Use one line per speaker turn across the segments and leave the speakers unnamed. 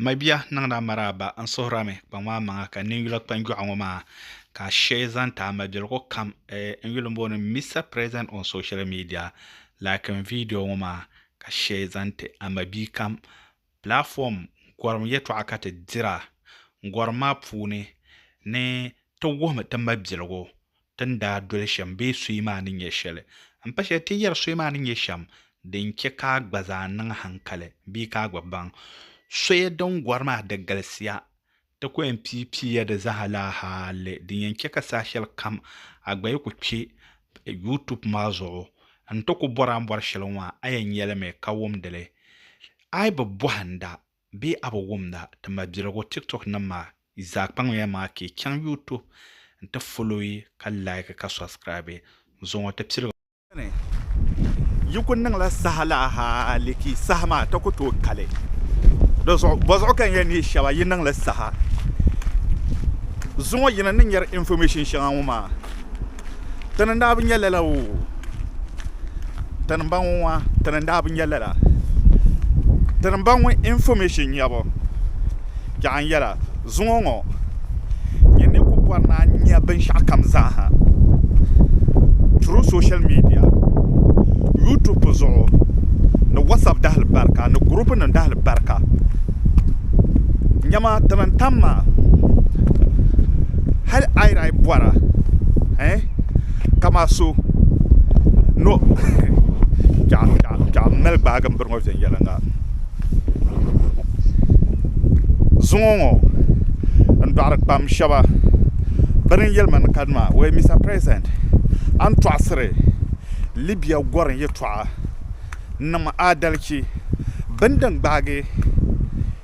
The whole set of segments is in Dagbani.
Mabia niŋda maraaba n suhura mi kpaŋ maa maŋa ka ninyula kpanjɔɣu ŋɔ maa ka a shee zaŋ ti a mabiligu kam n yuli booni Mister president on social media like n video ŋɔ maa ka shee zaŋ ti a mabia kam platform gɔrim yɛltɔɣa ka ti dira gɔrim maa puuni ni ti wuhimi ti mabiligu Ti ni daa doli shɛm bee soya maa ni nyɛ shɛli. M pa shɛli ti yɛri soya maa ni nyɛ shɛm din chɛ ka a gba zaa niŋ haŋkali bee ka a gba baŋ soya din gɔri maa di galisiya. Ti ku yɛn pii pii ya di zaa laa hali din yɛn chɛ ka saha shɛli kam a gba yi ku kpe YouTube maa zuɣu n-ti ku bɔri a ni bɔri shɛli ŋɔ a yɛn nyɛlimi ka wumdi li. A yi bi bɔhinda Bee a bi wumda ti mabiligu tiktok nim maa yi zaa kpaŋmiya maa ka yi chaŋ youtube n ti follow yi ka like ka subscribe n zuŋɔ ti piligu. Beni yi ku niŋla saha la hali ka yi saha maa ti ku tooi kali di zuɣu bɔzuɣu ka n yɛn nihi shɛba yi niŋli saha zuŋɔ yi ni ni nyari information shɛŋa ŋɔ maa Tani n daa bi nya lala oo tani n ba ŋɔ ŋɔ tani n daa bi nya lala tani n ba ŋɔ information nyabu yaɣi n yɛla zuŋɔ ŋɔ nyin ni ku bɔri ni a nya binshɛɣu kam zaa ha through social media YouTube zuɣu ni whatsapp dahili barika ni group nim dahili barika nyama tini n tam maa hali ayira yi bɔra eh kama so no kpɛɣu m-mali gbaagi m-biri ŋɔ viɛnyɛliŋga zuŋɔ ŋɔ n-dɔɣiri kpam shɛba bɛ ni yɛli ma ni kani maa wee Mista President a ni tɔɣisiri Libya gɔrim yɛltɔɣa n-niŋ ma adalichi bini din gbaagi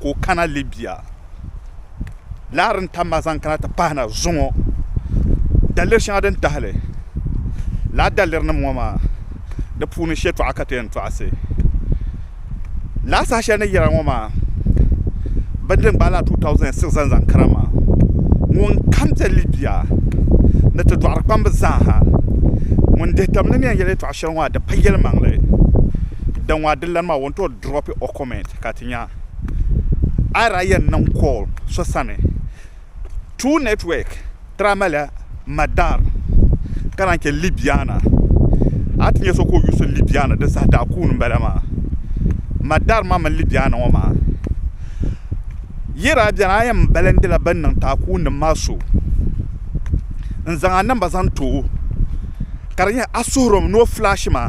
ka o kana Libya laɣiri n-tam ma zaŋ kana ti pahi na zuŋɔ daliri shɛŋa din tahili lala dalirinim ŋɔ maa di puuni shɛtɔɣa ka ti yɛn tɔɣisi lala saha shɛli ni yɛra ŋɔ maa bini din gbaai lala 2006 zaŋ zaŋ kana maa ŋun kam be Libya ni ti dɔɣiri kpamba zaa ha ŋun dihi tam ni mɛ n-yɛli yɛtɔɣ shɛli ŋɔ maa di pa yɛlimaŋli din ŋɔ a di lani maa o ni tooi drop o comment ka ti nya ayira yɛn niŋ call so sani True Network daa malila Madar ka naan chɛ Libyana a ti nya so ka o yuusi Libyana di saha daa kuuni m-bala maa Madar maa mini Libyana ŋɔ maa yɛra beni a yɛn balindila bɛn niŋ ti a kuuninim maa so n-zaŋ a namba zaŋ ti o ka di nyɛ a suhuri ni o flash ma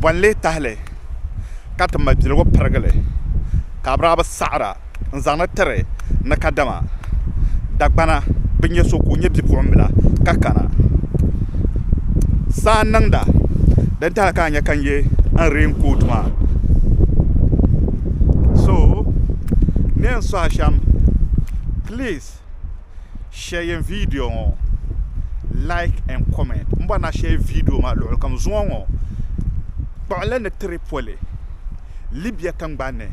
Bɔnli tahili ka ti mabiligu pirigili ka Abiraabi saɣira n-zaŋdi tiri ni kadama Dagbana bi nya so ka o nyɛ bipuɣimbila ka kana saa n-niŋda din tahili ka a nya ka n ye n reenkooti maa so ni yɛn sɔhi shɛm please. shɛyɛn vidio ŋɔ like and comment n bɔri na shɛyi vidio maa luɣuli kam zuŋɔ ŋɔ kpuɣinli ni Tripoli Libya tingbani ni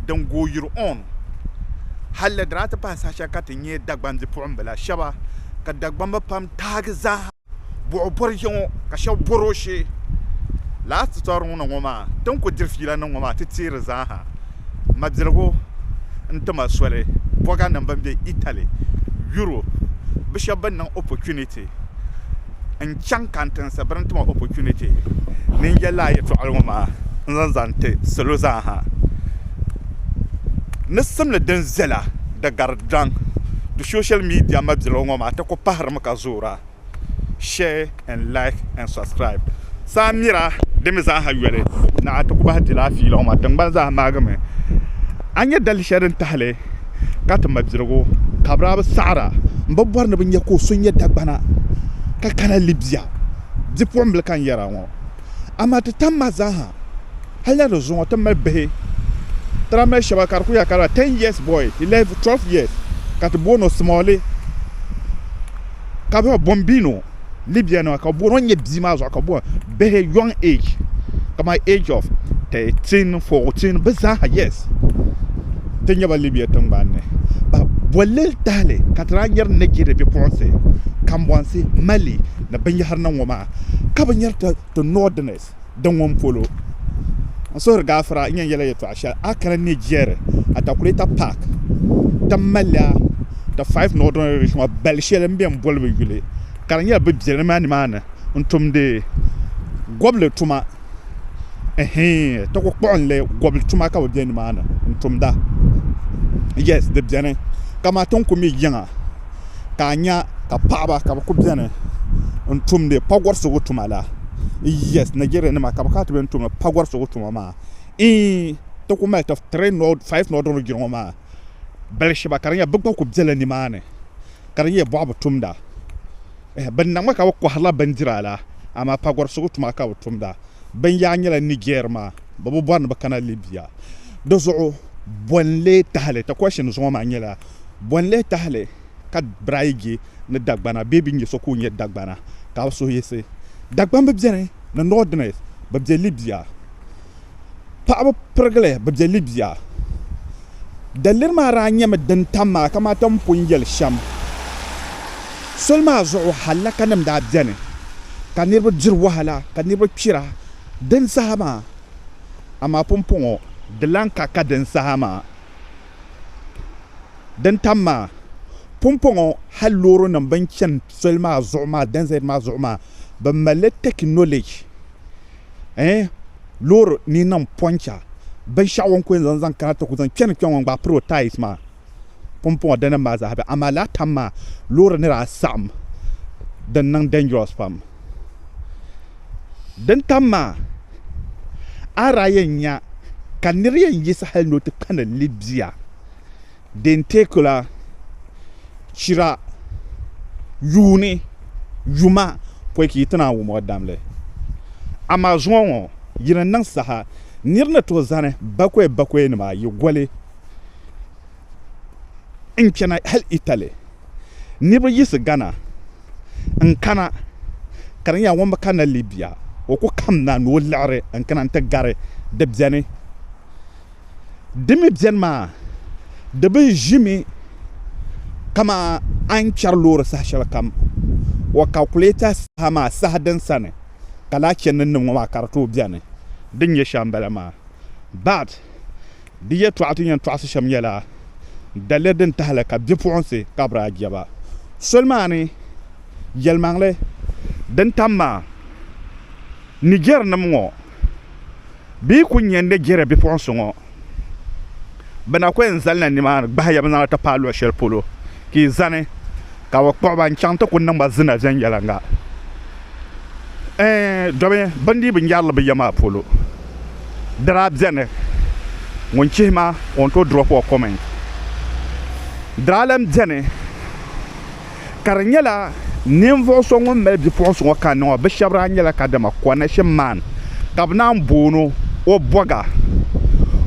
din gooi yiri on halli di na ti pahi saha shɛli ka ti nyɛ Dagban bipuɣimbila shɛba ka Dagbamba pam taagi zaaha. buɣi bɔri ya ŋɔ ka shɛba bɔri o shee. Lala tutorial ni ŋɔ maa ti ni ku diri fiila niŋ ŋɔ maa ti teei di zaaha mabiligu n-ti ma soli bɔganim bɛn be Italy, Europe bɛ shɛba bɛn niŋ opportunity n-chaŋ kantinsi bɛ ni ti ma opportunity ni n-yɛli lala yɛltɔɣili ŋɔ maa n-zaŋ zani n-ti salo zaaha ni simdi din viɛla di gari daŋ di social media mabiligu ŋɔ maa ti ku pahiri ma. ŋɔ ka zoora share and like and subscribe saa mira din mi zaaha yoli na a ti kubahi di laa fiila ŋɔ maa tingbani zaaha maagimi a nya dali shɛli din tahili ka ti mabirigu kabira bi saɣara n bi bɔri ni bi nya ka o so nya dagbana ka kana Libya bipuɣimbila ka n yɛra ŋɔ Amaa ti tam ma zaa ha, hali na di zuŋɔ ti mali bihi tira mali shɛba ka di ku ya ka lala ten years boy, eleven, twelve years ka ti booni o Smalli ka bɛ Bombino, Libya nima ka bɛ booni o n-nyɛ bia maa zuɣu ka bɛ booni bihi young age kamani age of thirteen, fourteen bɛ zaa ha yes ti nya ba Libya tiŋgbani ni. Ba bolli tahili ka ti daa nyari Nigeria bipuɣinsi, kambɔnsi, Mali ni binyɛhiri ni ŋɔ maa. ka bi nyari ti ti Northerners din ŋun polo. N suhiri gaafara n yɛn yɛla yɛtɔɣa shɛli a kana ni jɛri Atakuleta Park ti malila ti five Northern Irish ŋɔ bali shɛli n bɛ n boli bi yuli ka di nyɛla bi bɛlimi a nimaani n tumdi gɔbili tuma. ti ku kpuɣinli gobili tuma ka bi bɛ nimaani n tumda yes di biɛni kamani ti ni ku mi yiŋa ka a nya ka paɣaba ka bi ku biɛni n tumdi pagurisigu tuma la yes najeriya nima ka bi kana ti bini tumdi pagurisigu tuma maa iin ti ku mali faif ni ɔdɔna jiri ŋɔ maa bali shɛba ka di nyɛ bi gba ku biɛla nimaani ka di nyɛ bɔɣa bi tumda. Bɛ niŋmi ka bɛ kɔhirila bindira la, amaa pagɔrisigu tuma ka bɛ tumda. Bɛn yaa nyɛla Niger maa, bɛ bi bɔri ni bɛ kana Libya. Di zuɣu Bɔnle Tahali, ti question zuŋɔ maa nyɛla, Bɔnle Tahali ka Braige ni Dagbana bee bɛ nyɛ so ka o nyɛ Dagbana? Ka bɛ suhu yiɣisi. Dagbani bi beni, ni Northerners, bɛ be Libya. paɣaba pirigili bi bɛ Libya. Daliri maa daa nyɛmi din tam maa kamani ti ni pun yɛli shɛm. Soli maa zuɣu hallakanim daa beni ka niriba diri wahala ka niriba kpira din saha maa amaa pumpɔŋɔ di lan ka ka din saha maa. Din tam maa, pumpɔŋɔ hal loorinim bɛn chani soli maa zuɣu maa, dɛzɛt maa zuɣu maa, bɛ malila technology. eh, loori ni niŋ pɔncha binshɛɣu o ni ku yɛn zaŋ zaŋ kana ti ku zaŋ kpɛni kpɛŋɔ n-gbaai piri o taayis maa pumpɔŋɔ dinim maa zaa be amaa laa tam maa loori ni daa saɣim din niŋ dangerous pam din tam maa a daa yɛn nya ka nir yɛn yiɣisi hali ni o ti kpɛni Libya dentecular chira yuuni yuma pɔi ka yi ti naan wum o damli. Amaa zuŋɔ ŋɔ yi ni niŋ saha nir ni tooi zani bakɔi bakɔinima ayi goli n-chana hal Italy. Niriba yiɣisi Ghana n-kana ka di nyɛla ŋun bi kanna Libya o ku kamna ni o liɣiri n-kana nti gari di beni. Di mi beni maa, di bi ʒimi kaman a ni chɛri loori saha shɛlikam o kalkulata saha maa saha din sani ka lahi chɛ ni n niŋ ŋɔ maa ka di tooi beni. Din nyɛ shɛm m-bala maa. Bart, Di yɛtɔɣa ti ni yɛn tɔɣisi shɛm nyɛla daliri din tahili ka bipuɣinsi kabiri a jɛba. Soli maa ni yɛlimaŋli din tam maa, Nijɛrinim ŋɔ, Bɛ ku nya ni jɛri bipuɣinsi ŋɔ. Bɛ na ku yɛn zalila nimaani gbahi ya bɛ zaŋ a ti paai luɣ shɛli polo ka yi zani ka bɛ kpuɣi ba n-chaŋ ti ku niŋ ba zina viɛnyɛliŋga. Ɛɛn domi bɛ ni dii bi nyari li bɛ ya maa polo. Di daa beni ŋun chihi ma o ni tooi drop o comment. Di daa lan beni. ka di nyɛla ninvuɣu so ŋun mali bipuɣunsi ŋɔ kanni ŋɔ bi shab daa nyɛla kadama Konashe man ka bi naan boono o bɔga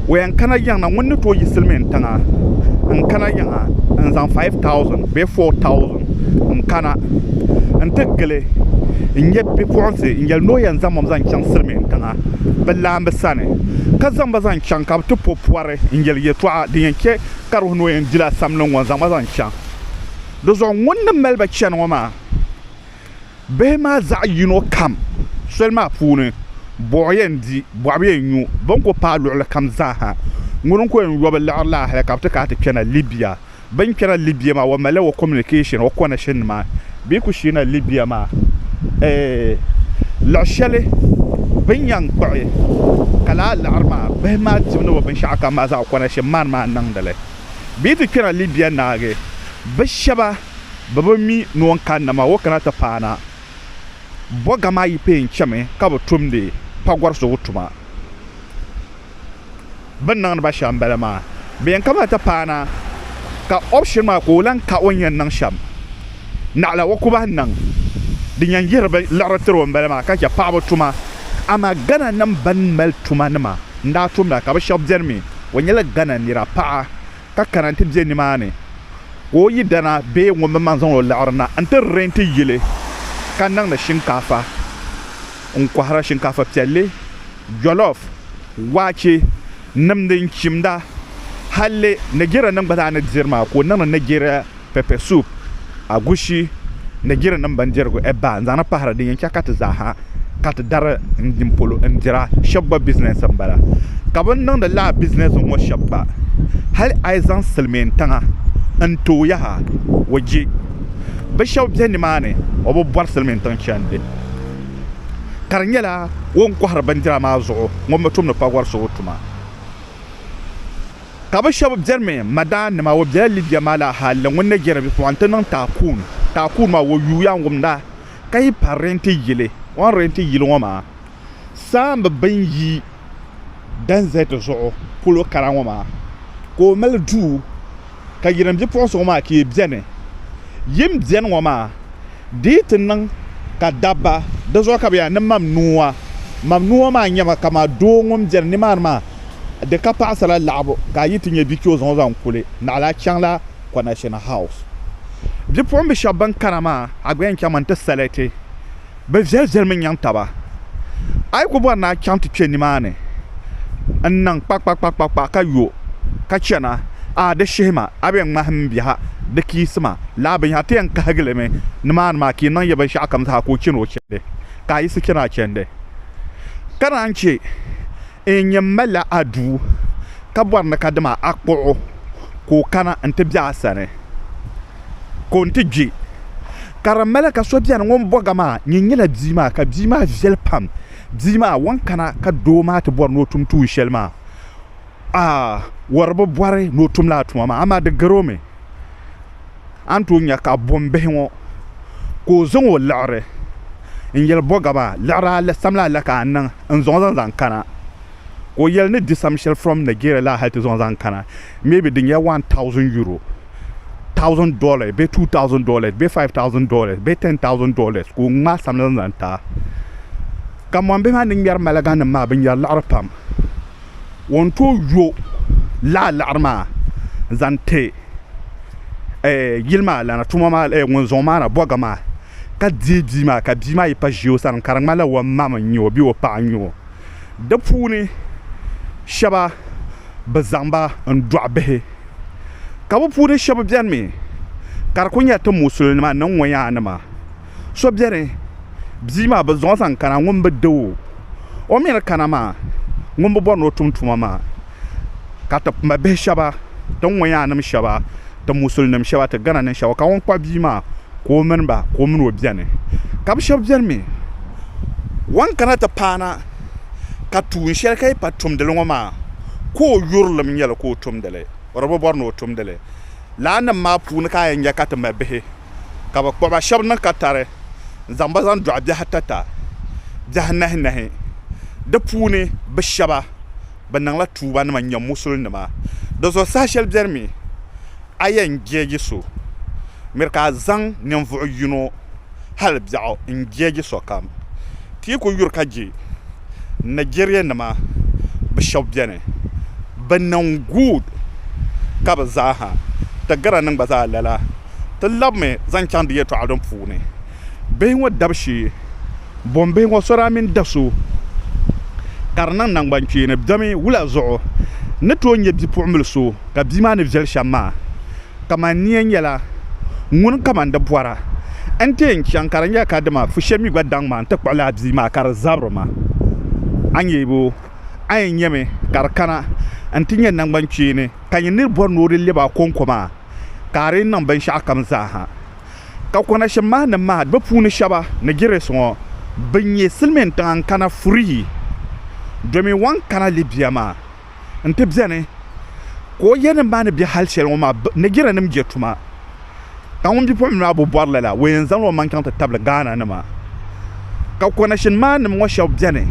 o yɛn kana yiŋ na ŋun ni tooi yi silmiin tiŋa n kana yiŋ ha n zaŋ faiv tausin bee foo tausin n kana n ti gili n nyɛ bipuɣunsi n yɛli ni o yɛn zaŋbam zaŋ chɛŋ silmiin tiŋa bi laambi sani ka zaŋ ba zaŋ chɛŋ ka bi ti po pɔri n yɛli yɛltɔɣa din yɛn chɛ ka di wuhi ni o yɛn dila samli ŋɔ n zaŋ ba zaŋ chɛŋ Dizuɣu ŋun ni mali ba chani ŋɔ maa, bihi maa zaɣ yino kam soli maa puuni, bɔɣu yɛn di, bɔɣu bi yɛn nyu, bɛ ni ku paai luɣilikam zaa ha. Ŋuni n-ku yɛn yɔbu liɣiri la hali ka bɛ ti ka a ti kpɛna Libya. Bɛ ni kpɛna Libya maa, o malila o communication, o connection nima bee ku sheena Libya maa. Luɣ shɛli bɛ ni yɛn kpuɣi ka lahi liɣiri maa, bihi maa dibu ni bɛ binshɛɣukam maa zaa o connection man maa n-niŋdi li. bɛ yi ti kpɛna Libya naagi, bɛ shɛba bɛ bi mi ni o ni kanna maa o kana ti paana.
Bɔga maa yi pee n-chami ka bɛ tumdi pagɔrisigu tuma. Bɛ ni niŋdi ba shɛm m-bala maa. Bɛ yɛn kamila ti paana ka option maa ka o lan ka o ni yɛn niŋ shɛm naɣila o ku bahi niŋ. Din yɛn yihiri bɛ liɣiri tiri o m-bala maa ka chɛ paɣibu tuma. Amaa Ghananim bɛn mali tumanima n-daa tumda ka bɛ shɛba beni mi O nyɛla Ghana nira paɣa ka kana nti be nimaani ka o yidana bee ŋun bi maŋ zaŋ o liɣiri na nti renti yili ka niŋdi shinkaafa n-kɔhira, shinkaafa piɛlli, jollof, waache, nimdi n-chimda. Halli Nigerianim gba zaa ni diri maa ka o niŋdi Nigeria. pepper soup, agushi ni jirinim bindirigu ebaa n zaŋna pahiri din yen che ka ti zaaha ka ti dari n din polo n dira sheb gba business m bala ka bini niŋdi lala business ŋɔ sheb gba hali ayi zaŋ silimiin tiŋa n tooi yaha o je bi sheb be nimaani o bi bori silimiin tiŋ chendi ka di nyela o ni kohiri bindira maa zuɣu ŋun bi tumdi pagori so o tuma. Ka bɛ shɛba biɛrimi, Madaannima, o bela Libya maa la hal ni ŋun ni jɛri bipuɣin ti niŋ taakuun. Taakuun maa, o yuuya n-wumda ka yi pa rɛnti yili. O ni rɛnti yili ŋɔ maa, saamba bɛn yi Danzɛt zuɣu polo kara ŋɔ maa ka o mali duu ka yirim bipuɣinsi ŋɔ maa ka yi beni. Yim beni ŋɔ maa. Di yi ti niŋ ka dabba, di zuɣu ka bɛ yaa ni mam nua. Mam nua maa n-nyɛ ba, kaman doo ŋun beni nimaani maa, di ka paɣisira laɣibu ka a yi ti nya bikpɛo zaŋ o zaŋ kuli, naɣila a chaŋla Connection House. Bipuɣimbihi shɛba bɛn kana maa, a gba yɛn chaŋmi nti saliti bɛ viɛliviɛlimi nyaŋ taba. A yi ku bɔri ni a chaŋ ti kpe nimaani n-niŋ kpakpakpakpakpa ka yo ka chana, a di shihi ma, a bɛn ŋmahim m biɛha, di kiisi ma, lala binyɛra ti yɛn kahigi li mi nimaani maa ka yi niŋ ya binshɛɣukam zaa ka o chani o chandi, ka a yiɣisi chani a chandi. Ka naan chɛ. N nya m ma la a duu, ka bɔri ni ka dama a kpuɣ o ka o kana nti be a sani ka o ni ti kpe. Ka di mali ka so beni ŋun bɔg a maa ni nyɛla bia maa, ka bia maa viɛl pam. Bia maa wan kana ka doo maa ti bɔri ni o tum tuun shɛli maa? Aa! Wari bi bɔri ni o tum lala tuma maa, amaa di gar o mi. a ni tooi nya ka bɔmbihi ŋɔ ka o zaŋ o liɣiri n-yɛli Bɔgaba, liɣiri samli ala ka a niŋ n-zaŋ zaŋ zaŋ kana? Ka o yɛli ni di sam shɛli from Nigeria la hali ti zaŋ zaŋ kana maybe di nyɛla one thousand euro, thousand dollars bee two thousand dollars bee five thousand dollars bee ten thousand dollars ka o ŋmaai samli zaŋ zaŋ ti a. Ka mɔmbihi maa ni ŋmɛri maliganim maa bɛ ŋmɛri liɣiri pam. o ni tooi yo laɣa laɣari maa n zaŋ ti yili maa lana tuma maa lana ŋun zaŋ o maana bobga maa ka deei bia maa ka bia maa yi pa ʒɛ o sani ka di ŋmanila o ma n nyɛ o bee o paɣa n nyɛ o di puuni shaba bi zaŋba n dɔɣi bihi ka bi puuni shaba biɛni mi ka di ku nyɛ ti musulin nima ni ŋɔ yaa nima so biɛni bia maa bi zaŋ o zaŋ kana ŋun bi doo o mii ni kana maa ŋun bi bori ni o tum tuma maa ka ti ma bihi shaba ti ŋɔ yaa nim shaba ti musuli nim shaba ti gana nin shaba ka ŋun kpabi bia maa ka o mini ba ka o mini o biɛni ka bi shaba biɛni mii wan kana ti paana ka tuun shɛli ka yi pa tumdili ŋɔ maa ka o yurilim nyɛli ka o tumdili o di bi bori ni o tumdili laa nim maa puuni ka a yɛn nya ka ti ma bihi ka bɛ kpuɣi ba shɛba ni ka tari n-zaŋ ba zaŋ dɔɣi biɛhi atata, biɛhi anahinahi. Di puuni bɛ shɛba bi niŋla tuubanima n-nyɛ musulinima. Di zuɣu saha shɛli beni mi a yɛn jeeji so, miri ka a zaŋ ninvuɣ yino hali biɛɣu n-jeeji sokam. Ti ku yuri ka je Nigeria nima bi shɛb beni bi niŋ good ka bi zaa ha ti Ghana nim gba zaa lala ti lab mi zaŋ chaŋ di yɛtɔɣa din puuni bihi ŋɔ dab shee bɔn bihi ŋɔ so daa mini da so ka di niŋ nangban kpeeni bemi wula zuɣu ni tooi nyɛ bipuɣinbil so ka bia maa ni viɛli shɛm maa kaman nia nyɛla ŋun kaman di bɔra, n-ti yɛn chaŋ ka di nyɛla ka dama fu shɛm mi gba daŋ ma nti kpuɣi lala bia maa ka di zabiri ma. A nyɛ bo? A yɛn nyami ka di kana n-ti nyɛ naŋgban kpeeni ka nyɛ nir bɔri ni o di lɛb a kɔŋko maa ka a di niŋ binshɛɣukam zaaha. Ka kɔnashim mahinim maa bɛ puuni shɛba ni Girisi ŋɔ bi nyɛ silimiintiŋa n-kana Furihi domin wan kana Libia maa. n-ti beni ka o yanim maa ni be hal shɛli ŋɔ maa, Nigerianim je tuma, ka ŋun bipuɣimbila maa bi bɔri lala, o yɛn zaŋla o maŋ chaŋ ti tabili Ghananima. Ka kɔnashin maannim ŋɔ shɛba beni,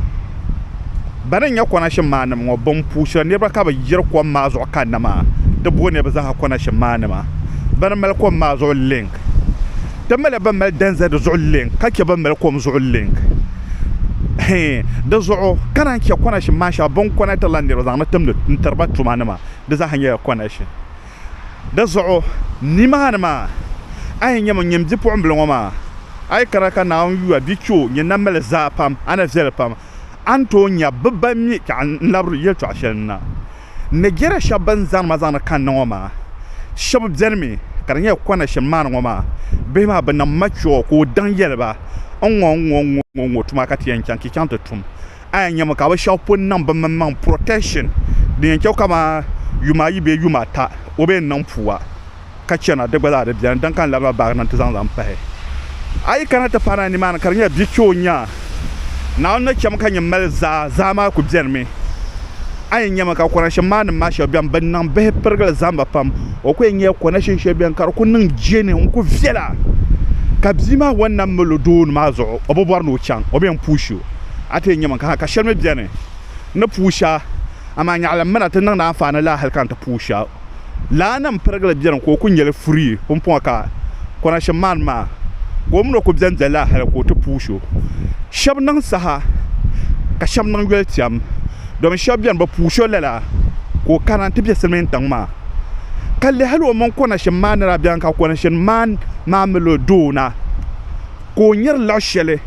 bɛ ni nya kɔnashin maannim ŋɔ, bɛn puu shiri niriba ka bɛ yiri kom maa zuɣu kanna maa, ti booni bɛ zaaha kɔnashin maannima. Bɛ ni mali kom maa zuɣu link. Di mali bɛn mali dɛnzɛ di zuɣu link ka chɛ bɛn mali kom zuɣu link hee di zuɣu ka naan chɛ connection maa shɛŋa bɛ ni connectirila niriba zaŋ ni timdi n-tiri ba tuma ni maa di zaaha nyɛla connection. Di zuɣu nimaani maa a yi nya mi nyini bipuɣimbila ŋɔ maa a yi kana ka Naawuni yuya bɛ chɛ o nyini na mali zaa pam a ni viɛli pam a ni tooi nya bɛ ba mi ka n labiri yɛltɔɣa shɛli na. Nigeria shɛba bɛn zaŋdi ma zaŋdi kanna ŋɔ maa shɛba benimi ka di nyɛla Kwanashim maani ŋɔ maa bihi maa bɛ nam mature ka o daŋ yɛli ba n ŋɔ n ŋɔ n ŋɔ tuma ka ti yɛn chaŋ ka yi chaŋ ti tum a yɛn nyami ka bɛ shɛba pun niŋ bɛ mini maŋ protection din yɛn che kaman yuma ayi bee yuma ata o bɛ yɛn niŋ puu a. ka chana, di gba zaa di beni, din ka n labina baagi na nti zaŋ zaŋ pahi. A yi kana ti pahi na nimaani ka di nyɛla bia kpe o nya, Naawuni ni chɛmi ka nyin mali zaa, zaa maa ku benimi. A yi nyami ka kɔnashin maa nim maa shɛba beni bɛ niŋ bihi pirigili zamba pam, o ku yɛn nyɛla kɔnashin shɛli beni ka di ku niŋ jɛni n-ku viɛla, ka bia maa wan nam mali o dooni maa zuɣu o bi bɔri ni o chaŋ, o bi yɛn puush o. A ti yɛn nyami ka ha ka shɛli mi beni n ni puush a, amaa nyaɣilim mi na ti niŋdi anfaani la hali ka n ti puush a. Laa nam pirigili beni ka o ku nyeli furi pumpɔŋɔ ka Konashim maani maa ka o mini o ku beni be laa hali ka o ti puui so. Shɛb niŋ saha ka shɛb niŋ yoli tɛm domin shɛb beni bi puui so lala ka o kana nti be silimiintiŋ maa ka lɛhi hali o mini Konashim maa ni daa beni ka Konashim maani maa mali o doo na ka o nyari lɔɣu shɛli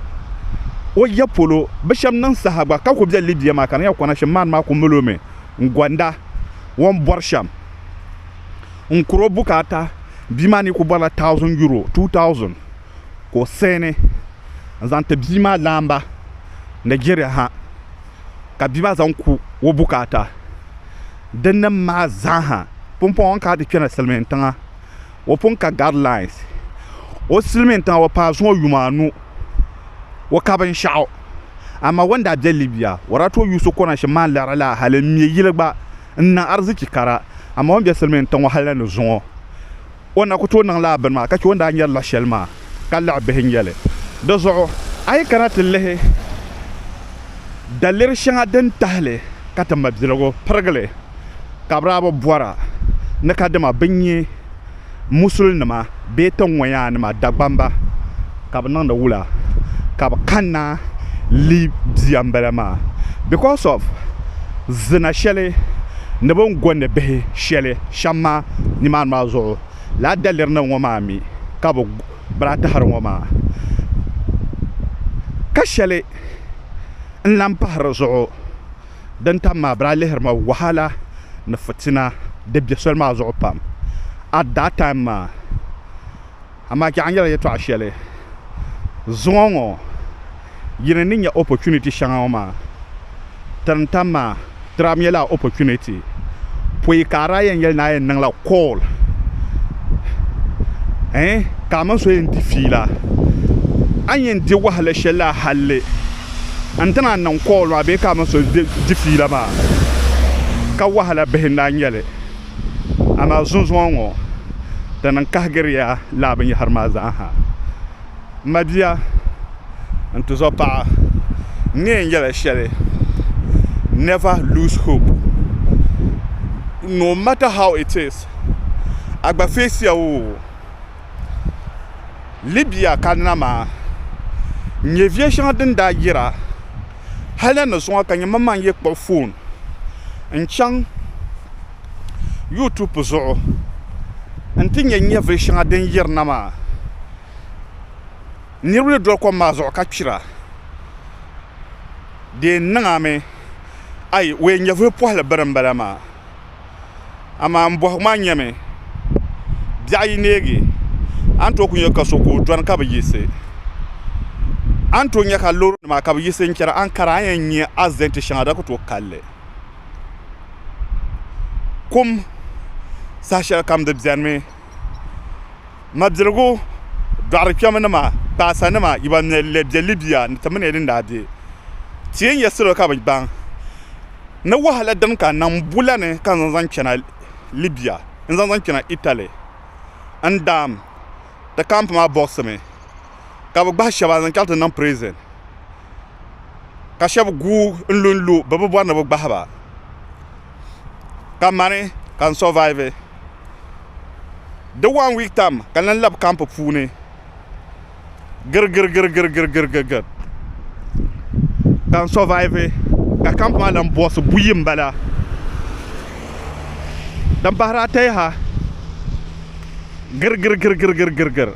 o ya polo. Bi shɛb niŋ saha gba ka ku be Libya maa ka di nyɛla Konashim maani maa ku mali o mi. n gɔnda o ni bɔri shɛm n-kuri o bukaata bia maa ni kuli bɔrila thousand euro two thousand ka o saini n-zaŋ ti bia maa laamba Nigeria ha ka bia maa zaŋ ku o bukaata dinni maa zaa ha pumpɔŋɔ ka a ti kpɛna silimiintiŋa o pun ka guidelines o silimiin tiŋa o paai zuŋɔ yuma anu o ka binshɛɣu amaa o ni daa be Libya o daa tooi yuusi o kɔna shɛm maa n-liɣiri laa hal m-me yili gba n-niŋ arzichi kara amaa o ni be silimiin tiŋ ŋɔ hal la ni zuŋɔ o ni na kuli tooi niŋ laa bini maa ka chɛ o ni daa nyari la shɛli maa ka liɣi bihi n-nyɛ li di zuɣu a yi kana ti lihi daliri shɛŋa din tahili ka ti mabiligu pirigili ka bɛ daa bi bɔra ni ka dama bɛ nya Musulinima bee tiŋŋɔyaanima Dagbamba ka bɛ niŋdi wula ka bɛ kanna leei bia m-bala maa because of zina shɛli ni bɛ ni gondi bihi shɛli shɛm maa nimaani maa zuɣu lala daliri nima ŋɔ maa mi ka bɛ daa tahiri ŋɔ maa ka shɛli n-lahi pahi di zuɣu. Din tam maa, bere a lihiri ma wahala ni fitina di be soli maa zuɣu pam at that time maa. Amaa chɛ a ni yɛli yɛtɔɣa shɛli zuŋɔ ŋɔ, yi ni ni nya opportunity shɛŋa ŋɔ maa, tirin tam maa, tiram ya lala opportunity pɔi ka a daa yɛn yɛli ni a yɛn niŋla call eh, ka a mini so yɛn di fiila, a ni yɛn di wahala shɛli la halli. n ti naan niŋ kool maa bee ka a mini so di fiila maa, ka wahala bihi n daa nyɛ li. Amaa zunzuŋɔ ŋɔ, di niŋ kahigiri ya lala binyɛhiri maa zaa ha. M mabia, n tizɔpaɣa, n ni yɛn yɛla shɛli, never lose hope. No matter how it is, a gba face ya o. Libya ka nama n nyɛ viɛ shɛŋa din daa yira hali ni zuŋɔ ka nyɛ man maŋ yi kpuɣi foon n chaŋ yuutupu zuɣu n ti nyɛ nyɛvili shɛŋa din yirina maa niriba ni doli kom maa zuɣu ka kpira di yɛn niŋami ayi o yɛn nyɛvili pɔhili bini m-bala maa amaa m bɔhigu maa nyɛmi biɛɣu yi neegi a ni tooi kuli nya ka so ka o dɔni ka bi yiɣisi a ni tooi nya ka loorinima ka bi yiɣisi n-chana a ni kara a ni yɛn nya asidɛnti shɛŋa di daa kuli tooi kali li kum saha shɛlikam di benimi mabiligu dɔɣirikpɛmanima kpaasanima yi ban mali li be Libia ni ti mini ya din daa be ti yɛn nya salo ka bi gbaŋ ni wahala din ka na m-bu la ni ka n zaŋ chana Libya n-zaŋ zaŋ chana Italy n-daam ti camp maa bɔɣisimi ka bɛ gbahi shɛba n-zaŋ chaŋ ti niŋ prison ka shɛba guui n-lu n-lu bɛ bi bɔri ni bɛ gbahi ba ka mani ka n survive di one week time ka n lan labi camp puuni girigirigirigirigirigirigir ka n sɔvaivi ka kamp maa lan bɔhisi buyi m-bala din pahiri ata yaha girigirigirigirigirigir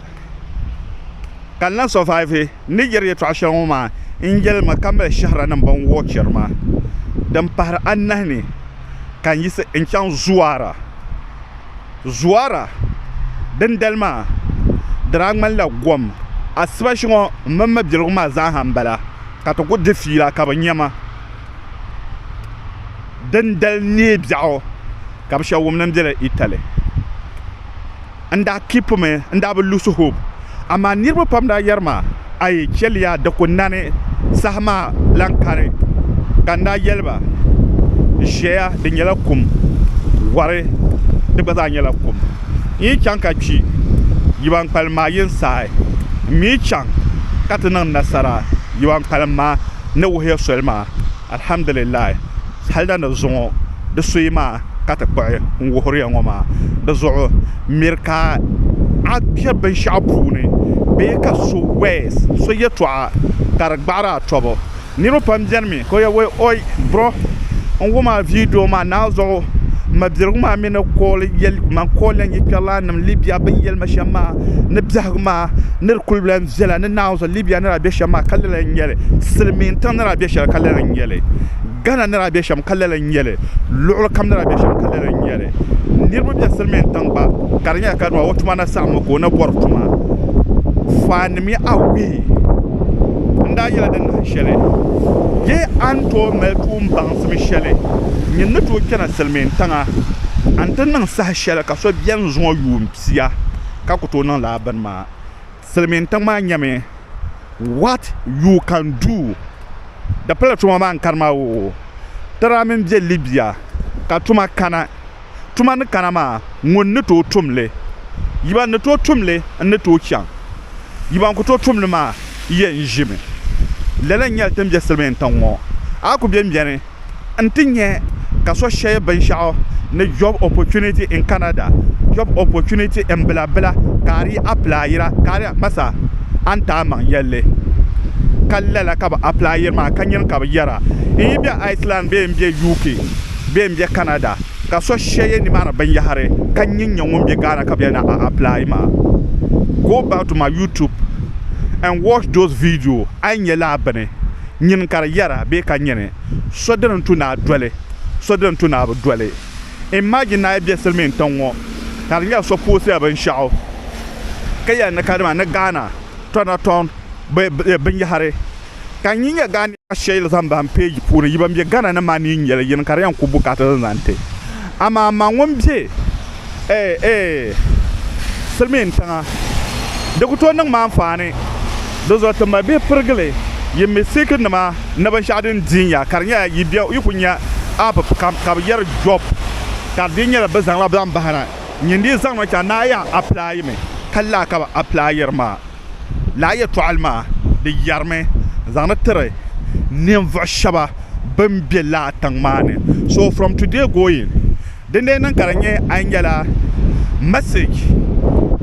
ka n lan sɔvaivi n ni yɛri yɛtɔɣ shɛli ŋɔ maa n-yɛli mi ka mali shɛhiranim ban wuhi chɛri ma din pahiri anahi ni ka n yiɣisi n-chaŋ Zuwaara Zuara, Dindali maa, di daa ŋmanila gom. Asiba shɛŋa mini mabiligu maa zaaha m-bala ka ti ku di fiila ka bi nya ma. Dindali neei biɛɣu ka bi shɛba wumdi m-bela Italy. N daa kipimi n-daa bi lose hope. Amaa niriba pam daa yɛri ma, A yi chɛliya di ku nani, saha maa lan kari. Ka n daa yɛli ba, Ʒiɛya di nyɛla kum, wari di gba zaa nyɛla kum. N yi chaŋ ka kpi, yi ban kpalim maa yi n saai. M mi yi chaŋ ka ti niŋ nasara, yi ban kpalim maa ni wuhiya soli maa. Alhamdulillahi, hal da ni zuŋɔ di suyi maa ka ti kpuɣi n wuhiri ya ŋɔ maa, di zuɣu miri ka a be binshɛɣu puuni bee ka so words, so yɛtɔɣa ka di gbaɣiri a tɔbu. Niriba pam beni mi ka o yɛli, Oi bro, n wum a video maa naanzuɣu, m ma birigu maa mi ni call yɛli ma n call ya n yikpɛrilaninim Libya bɛ ni yɛli ma shɛm maa ni biɛhigu maa ni di kuli lahi viɛla ni naanzu. libya ni daa bɛ shɛm maa ka lala n nyɛli silmiin tiŋ ni daa bɛ shɛli ka lala n nyɛli gana ni daa bɛ shɛm ka lala n nyɛli luɣuli kam ni daa bɛ shɛm ka lala n nyɛli niraba bɛ silmiin tiŋ gba ka di nyɛla ka nima o tuma na saɣammi ka o na bori tuma faan nim ya awee n daa yɛla din nahi shɛli yee a ni tooi mali tuun baŋsim shɛli nyin ni tooi kpɛna silmiin tiŋa a ni ti niŋ saha shɛli ka so biɛni zuŋɔ yuun pia ka ku tooi niŋ laa bini maa silimiin tiŋ maa nyɛmi what you can do di pala tuma maa n karima oo ti daa mini bɛ libya ka tuma kana tuma ni kana maa ŋun ni tooi tumli yi ban ni tooi tumli n ni tooi chaŋ yi ban kuli tooi tumli maa yɛn ʒimi lala n nyɛli ti ni bɛ silimiin tiŋ ŋɔ a kuli bɛni bɛni n ti nyɛ ka so share binshɛɣu ni job opportunity in Canada, job opportunity n bila bila ka a di yi applyira ka a di ma sa a ni taa maŋ yɛlli ka lala ka bi applyiri maa ka nyini ka bi yɛra n yi be Iceland bee n be UK bee n be Canada ka so share nimaani binyahiri ka nyin nyɛ ŋun be Ghana ka bɛ na a apply maa go back to my YouTube and watch those video a yi nyɛ lala bini nyin ka di yɛra bee ka nyini so dini tu naa doli so dini tu naa bi doli. Imagine naa yi be silimiin tiŋ ŋɔ ka di nyɛla so poosila binshɛɣu ka yɛli ni kadama ni Ghana tɔna tɔŋ binyɛhiri ka nyi nyɛ Ghanaian shɛli zaŋ bahi page puuni yi ban be Ghana ni maa ni yi nyɛli yini ka di yɛn ku bukaata din zaŋ ti amaa ma ŋun be eh, eh, silimiin tiŋa. Di ku tooi niŋ ma anfaani. Di zuɣu ti mali bihi pirigili yi misik nima ni binshɛɣu din diin ya ka di nyɛla yi bɛ yi ku nya app kam ka bi yɛri job ka di dii nyɛla bi zaŋla baŋ bahina nyini di zaŋ niŋ chaŋ ni a yan apply mi ka lala ka bi apply yiri maa. lala yɛtɔɣili maa di yɛrimi zaŋdi tiri ninvuɣ shɛba bɛn be lala tiŋ maa ni. So from today going din lee niŋ ka di nyɛ a nyɛla message,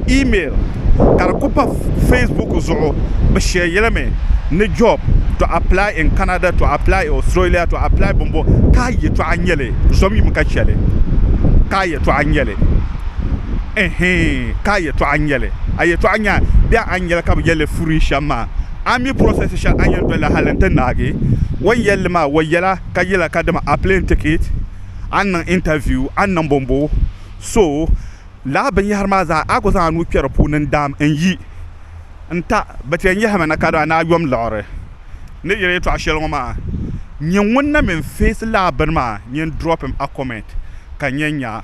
email ka di ku pa facebook zuɣu bɛ share yɛli mi ni job to apply in Canada to apply in Australia to apply bɔmbɔ ka a yɛtɔɣa nyɛ li zom yim ka chɛ li ka a yɛtɔɣa nyɛ li eeh ka a. yɛtɔɣa n-nyɛ li. A yɛtɔɣa nya bɛ a ni yɛli ka bɛ yɛl li furi shɛm maa. A mi process shɛli a ni yɛn doli la hal nti naagi o ni yɛl li maa. O yɛla ka yɛla ka dama a plane ticket, a ni niŋ interview, a ni niŋ bɔmbɔ. So, lala binyɛhiri maa zaa a ku zaŋ a nuu kpɛri puuni n-daam n-yi n-ta. Bɛ ti yɛn yɛhimi na ka daa ni a yom liɣiri ni yɛli yɛtɔɣa shɛli ŋɔ maa. Nyɛ ŋun na mi n-face lala bini maa, nyɛ n-drop him a comment ka n yɛn nya.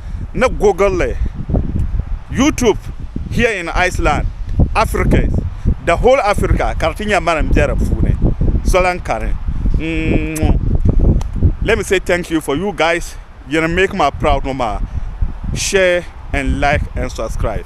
ni Google li, YouTube, Here in Iceland, Africans, The Whole Africa ka di ti nyɛ mani m-be di puuni so lan kani ŋ-ŋɔ. Let me say thank you for you guys yin make ma proud ŋɔ maa, share and like and subscribe.